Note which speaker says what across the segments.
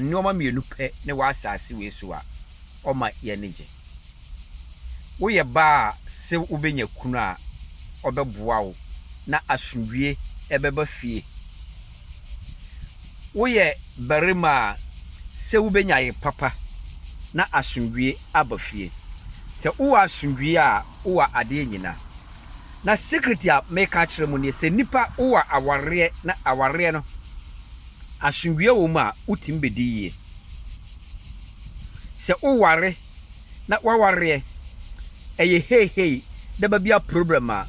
Speaker 1: Nnoɔma mmienu pɛ ne wɔ asaase wei so a ɔma yɛ ani gye. Woyɛ baa a se wobɛnya kunu a ɔbɛboa wo na asomdwie ɛbɛba fie. Woyɛ barima a se wobɛnya yere papa na asomdwie aba fie. Sɛ wowɔ asomdwie a wowɔ adeɛ nyina. Na secret a meka akyerɛ mo nie, sɛ nnipa wowɔ awareɛ na awareɛ no. Asomdwoeɛ wɔ mu a, wotumi bɛdi yie. Sɛ woware na w'awareɛ ɛyɛ heihei na ɛba bi a problem a,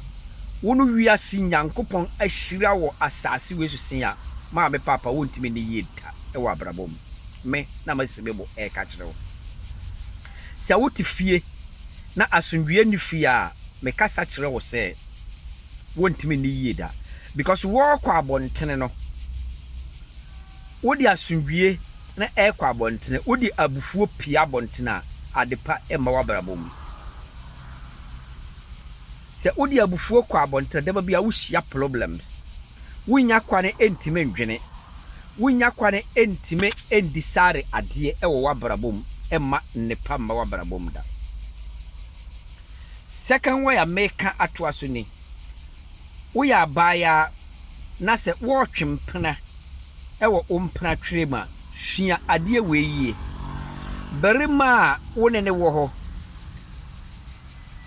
Speaker 1: wo ne wiase Nyankopɔn ahyira wɔ asase wei so see a, maame paapa wontumi nni yie da wɔ abrabɔ mu. Me na masi me bo ɛreka kyerɛ wo. Sɛ wote fie na asomdwoeɛ nni fie a, mekasa kyerɛ wo sɛ. wɔntumi nni yie da because wɔrekɔ abɔntene no, wode asomdwie na ɛrekɔ abɔntene, wode abufuo pie abɔntene a, adepa mma w'abrabɔ mu. Sɛ wode abufuo kɔ abɔntene, daba bi a wohyia problems. Wonnya kwane ntumi ndwene, wonnya kwane ntumi ndisare adeɛ wɔ w'abrabɔ mu mma nnepa mma w'abrabɔ mu da. Second way a meka atoa so ni, Woyɛ abaayaa na sɛ woretwe mpena wɔ wo mpena twerɛ mu a, sua adeɛ wei yie, Barima a wo ne no wɔ hɔ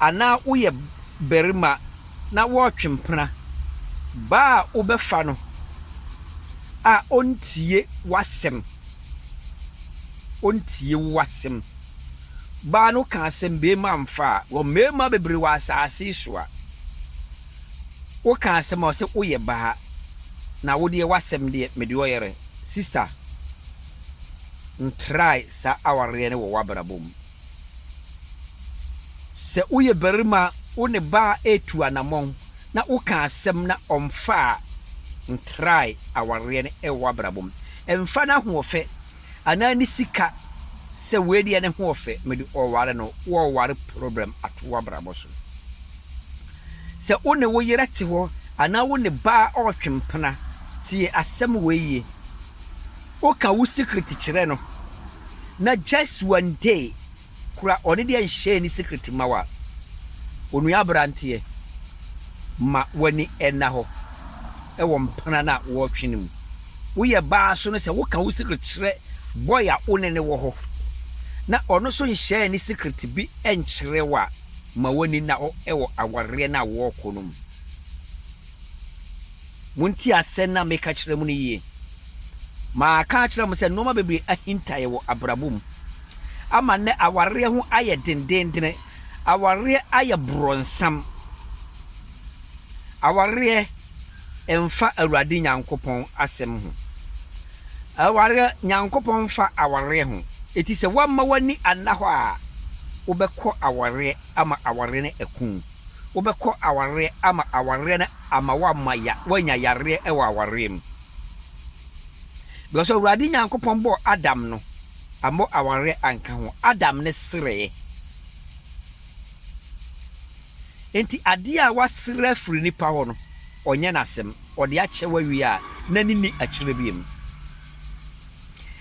Speaker 1: anaa woyɛ barima na woretwe mpena, baa a wobɛfa no a ɔntie w'asɛm, ɔntie w'asɛm. baa no kaa sɛ mmarima mfa a, wɔ mmarima bebree wɔ asase yi so a, woka asɛm a ɔsɛ woyɛ baa na wo deɛ w'asɛm deɛ mede ɔyɛrɛ. Sister, ntrae saa awareɛ no wɔ w'abrabɔ mu. Sɛ woyɛ barima a wo ne baa retu anamɔn na woka asɛm na ɔmfa a, ntrae awareɛ no wɔ w'abrabɔ mu. Mfa n'ahoɔfɛ. anaa ne sika sɛ wei deɛ ne ho ɔfɛ mede ɔware no wɔɔware problem ato wabrabɔ so sɛ wo ne wo yerɛ te hɔ anaa wo ne baa ɔɔtwe mpena tie asɛm wei yie woka wo secret kyerɛ no na just one day kura ɔne deɛ nhyɛɛ ne secret mma wo a onua abranteɛ ma wani ɛna hɔ ɛwɔ mpena no a wɔɔtwe no mu woyɛ baa so no sɛ woka wo secret kyerɛ boy a wone ne wɔ hɔ na ɔno nso nhyɛɛ ne secret bi nkyerɛ wo a ma wani nna hɔ ɛwɔ awareɛ no a wɔɔkɔ no mu montie asɛm no a meka kyerɛ mo no yie maa ka akyerɛ mo sɛ nnoɔma bebree ahintaeɛ wɔ abrabɔ mu. ama nnɛ awareɛ ho ayɛ dendenndene, awareɛ ayɛ borɔnsam, awareɛ mfa Awurade Nyankopɔn asɛm ho, awareɛ Nyankopɔn mfa awareɛ ho, eti sɛ woamma w'ani anna hɔ a, wobɛkɔ awareɛ ama awareɛ no aku wo, wobɛkɔ awareɛ ama awareɛ no ama woama ya woanya yareɛ wɔ awareɛ mu. Because Awurade Nyankopɔn bɔɔ Adam no, ammɔ awareɛ anka ho. Adam ne sereɛ. Enti adeɛ a wasere afiri nipa hɔ no, ɔnyɛ n'asɛm. Ɔde akyɛ wawie a, n'ani nni akyire biom.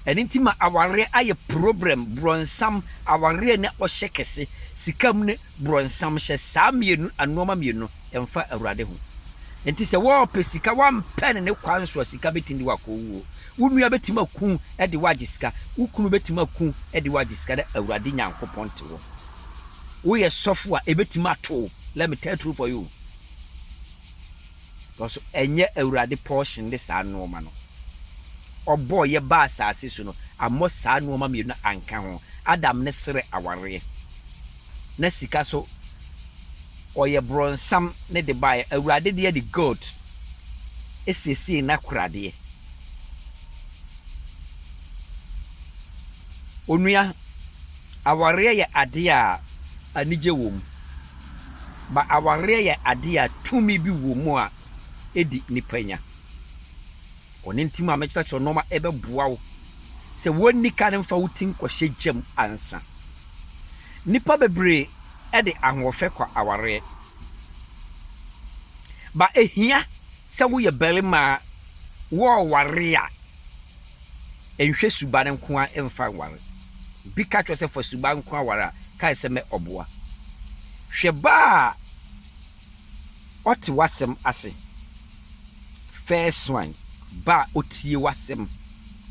Speaker 1: Ɛno nti ma awareɛ ayɛ problem, brɔnsam, awareɛ ne ɔhyɛ kɛse, sika mu ne bronsam hyɛ saa mmienu nnoɔma mmienu mfa Awurade ho. Nti sɛ wɔɔpɛ sika wampɛ no ne kwan so a sika bɛtumi de wo akɔ owuo. Wo nua bɛtumi aku de wo agye sika, wo kunu bɛtumi aku de wo agye sika na Awurade Nyankopɔn te wo. Woyɛ sɔfo a ɛbɛtumi ato wo, let me tell true for you. Because ɛnyɛ Awurade portion ne saa nnoɔma no. Ɔbɔɔ yɛ baa asaase so no ammɔ saa nnoɔma mmienu no anka ho. Adam ne serɛ awareɛ. na sika so ɔyɛ bronsam ne de baeɛ awurade deɛ de gold ɛsiesiee n'akoradeɛ onua awareɛ yɛ adeɛ a anigye wɔ mu ba awareɛ yɛ adeɛ a tumi bi wɔ mu a ɛdi nipa nya ɔne nti ma mekyerɛkyerɛ nɔɔma ɛbɛboa wo sɛ wɔnni ka ne mfa wo ti nkɔhyɛ gyam ansa. Nnipa bebree de ahoɔfɛ kɔ awareɛ. Ba ɛhia sɛ woyɛ barima a wɔɔware a nhwɛ suba no nko ara mfa nware. Obi ka kyerɛ wo sɛ fa suba nko ara ware a, kae sɛ mɛ ɔboa. Hwɛ ba a. Ɔte w'asɛm ase. First one, ba a ɔtie w'asɛm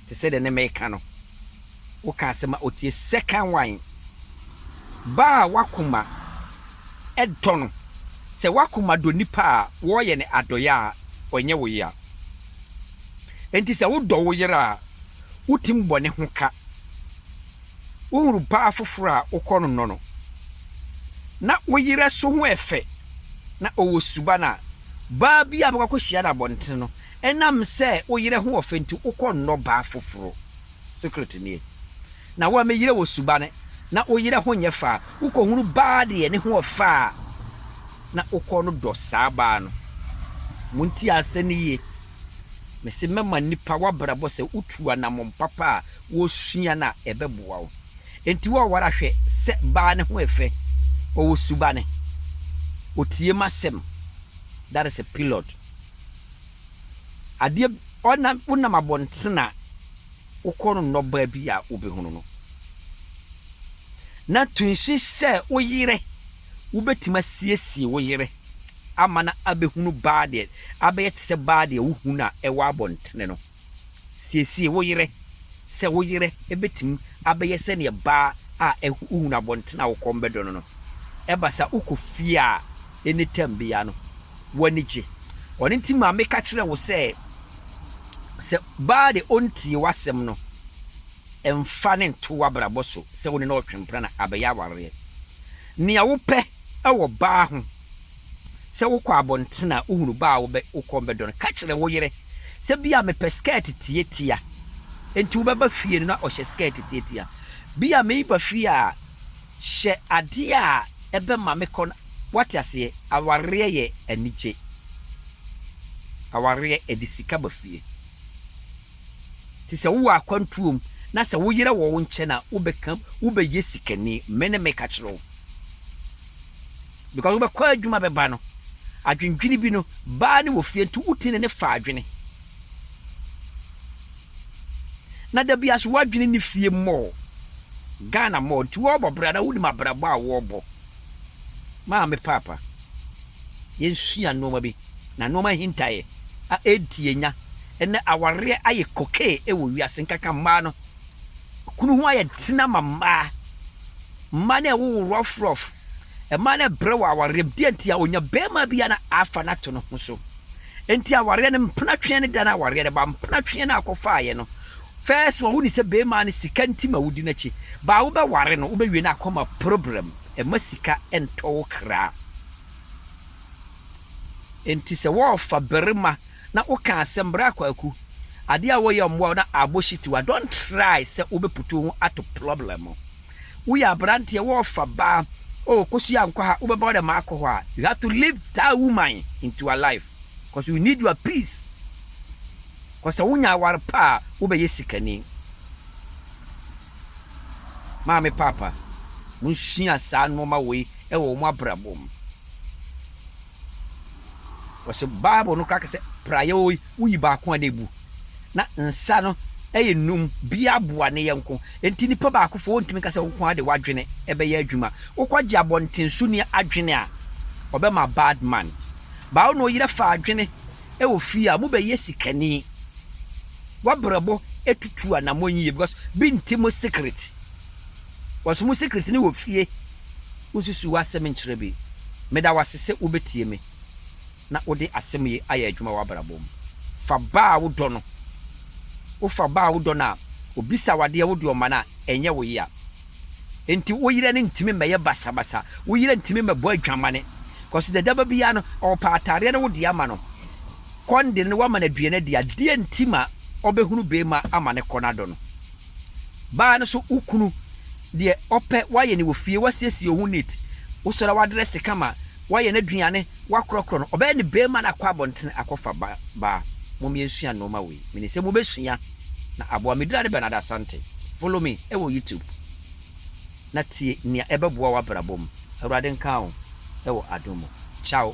Speaker 1: te sɛ deɛ ne meka no, woka asɛm a ɔtie. Second one, ba a w'akoma dɔ no. Sɛ w'akoma dɔ nipa a, wɔreyɛ no adɔeɛ a, ɔnyɛ wo yea. Enti sɛ wodɔ wo yere a, wotim bɔ ne ho ka. Wohunu baa foforɔ a, wokɔ no nɔ no. na wo yerɛ so ho yɛ fɛ na ɔwɔ suban a, baa bi a bɛkɔ akɔhyia no abɔntene no, ɛnam sɛ wo yerɛ ho wɔ fɛ nti wokɔ nnɔ baa foforo. Secret nie. Na wo a me yerɛ wɔ suban na wo yerɛ ho nyɛ fɛ a, wokɔ hunu baa deɛ ne ho yɛ fɛ a, na wokɔ no dɔ saa baa no. Montie asɛm no yie, me se mɛma nnipa w'abrabɔ sɛ wotu anamɔn papa a wosua no a ɛbɛboa wo. Enti wo a woara hwɛ sɛ baa no ho yɛ fɛ, ɔwɔ subane, ɔtie m'asɛm, that is a pilot, adeɛ ɔna wonam abɔntena wokɔ no nnɔbaa bi a wobɛhunu no na tunsi sɛ wo yere wobɛtumi asiesie wo yere ama no abɛhunu baa deɛ abɛyɛ te sɛ baa deɛ wohunu a ɛwɔ abɔntene no. Siesie wo yere sɛ wo yere betumi abɛyɛ sɛnea baa a wohu no abɔnten a wokɔm bɛdɔ no no. Ɛba saa a, wokɔ fie a, anytime biara no, w'ani gye. Ɔno nti ma meka kyerɛ wo sɛ, sɛ baa de ontie w'asɛm no, mfa no nto w'abrabɔ so sɛ wo ne no retwempena na abɛyɛ awareɛ. Nea wopɛ wɔ baa ho. Sɛ wokɔ abɔnten a wohunu ba a wo kɔn bɛdɔ no, ka kyerɛ wo yere sɛ, 'Bi a mepɛ skɛɛt tiatia. Enti wobɛba fie no na ɔhyɛ skɛɛt tiatia. Bi a mereba fie a, hyɛ ade a ɛbɛma me kɔn. Woate aseɛ? Awareɛ yɛ anigye. Awareɛ, ɛde sika ba fie. Te sɛ wowɔ akwantuo mu na sɛ wo yere wɔ wo nkyɛn a, wobɛka mu, wobɛyɛ sikani. Me ne meka kyerɛ wo. because wobɛkɔ adwuma bɛba no adwendwene bi no baa ne wɔ fie nti woti ne ne fa adwene na da bi aso woadwene ne fie mmɔɔ Ghana mmɔɔ nti wɔrebɔ bra na wonim abrabɔ a wɔrebɔ maame paapa yɛnsua nnoɔma bi na nnoɔma hintaeɛ a ɛnti yɛnya ɛnɛ awareɛ ayɛ kokee ɛwɔ wiase nkaka mmaa no kunu ho ayɛ tena ma mmaa mmaa no ɛwowo rough rough Ɛma no brɛ wɔ awareɛm. Deɛ nti a ɔnya barima bi a na afa no ato ne ho so. Nti awareɛ no mpena tweɛ ne da no awareɛ no ba. Mpena tweɛ no a akɔfaaeɛ no first one woni sɛ barima no sika nti ma wodi n'akyi baa wobɛware no wobɛwie no akɔma problem. Ɛma sika ntɔ wo kra. Nti sɛ wɔɔfa barima na woka asɛm bra kwaku adeɛ a wɔyɛ mmoa wo na abɔ shit wa don't try sɛ wobɛputu wo ho ato problem mu. Woyɛ aberanteɛ, wɔɔfa ba, oh Kosua ankɔ ha, wobɛba wo dɛ maakɔ hɔ a, you have to leave that woman into ur life cause you need ur peace cause sɛ wonya aware pa a, wobɛyɛ sikani. Maame paapa, monsua saa nnoɔma wei wɔ wɔn abrabɔ mu. Wɔse Bible no kora kɛsɛ praeɛo yi woyi baako a na ebu. Na nsa no yɛ nnum, biara boa ne yɛnko. Enti nnipa baakofoɔ wontumi nka sɛ wo nko ara de w'adwene bɛyɛ adwuma. Wokɔgye abɔntensoni adwene a, ɔbɛma bad man. Baa wo ne wo yere fa adwene wɔ fie a, mobɛyɛ sikani. W'abrabɔ tutu anammɔn yie because bi nte mo secret. Wɔse mo secret no wɔ fie. wunsusuw w'asɛm nkyerɛ bi. Meda wo ase sɛ wubetie me na wode asɛm yi ayɛ adwuma w'abrabɔ mu. Fa ba a wodɔ no. Wofa ba a wodɔ no a, obisa wo ade a wode ɔma no a, ɛnyɛ wo yea. Enti wo yere no ntumi mmɛyɛ basabasa. Wo yere ntumi mmɛbɔ adwamane. Kɔso dadaaba biara no, ɔpɛ atadeɛ no wode ama no. Kɔ no de no na woama no aduan adi a, deɛn nti ma ɔbɛhunu beema ama no kɔ no adɔ no? Baa no nso, wo kunu. Deɛ ɔpɛ wayɛ ne wɔ fie wasiesie oho neat wosɔre wadrɛse kama wayɛ naduane wakorɔkorɔ no ɔbɛyɛ ne bɛɛma na akɔ abɔntene akɔfa ba baa mom yɛnsua nnoɔma wei menim sɛ mobɛsua na aboa medina ne Bernard Asante follow me ɛwɔ YouTube na tie nea ɛbɛboa wabrabɔ mu awurade nka wo ɛwɔ adom mu ciao.